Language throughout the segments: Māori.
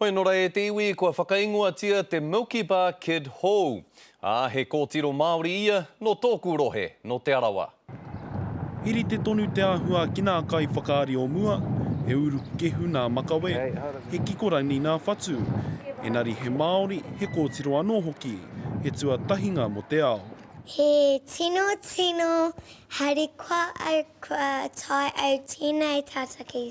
Hoi nō rā e te iwi kua whakaingoatia te Milky Bar Kid hou. Ā, he kōtiro Māori ia, nō tōku rohe, nō Te Arawa. He rite tonu te āhua ki nā kaiwhakaari o mua, he urukekehu nā makawe, he kikorangi nā whatu, engari he Māori, he kōtiro anō hoki, he tuatahinga mō te ao. He tino, tino harikoa au kua tae au tēnei tātaki.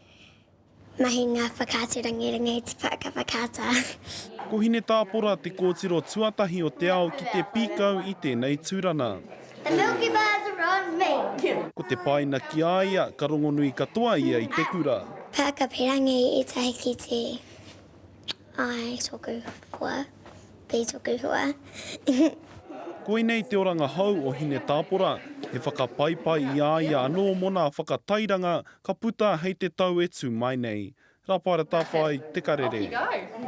Mahinga whakaatu rangiranga i te pāka whakaata. Ko Hinetāpora te kōtiro tuatahi o te ao ki te pīkau i tēnei tūrana. The Milky Bars are on me! Ko te paina ki a ia, ka rongonui katoa ia i te kura. Pāka pīrangi i tahi ki te I tōku hoa, B tōku hoa. Koinei te oranga hou o Hinetāpora, he whakapaipai i a ia anō mō nā whakatairanga Ka puta hei te tau e tu mai nei. Raparatawhai te karere.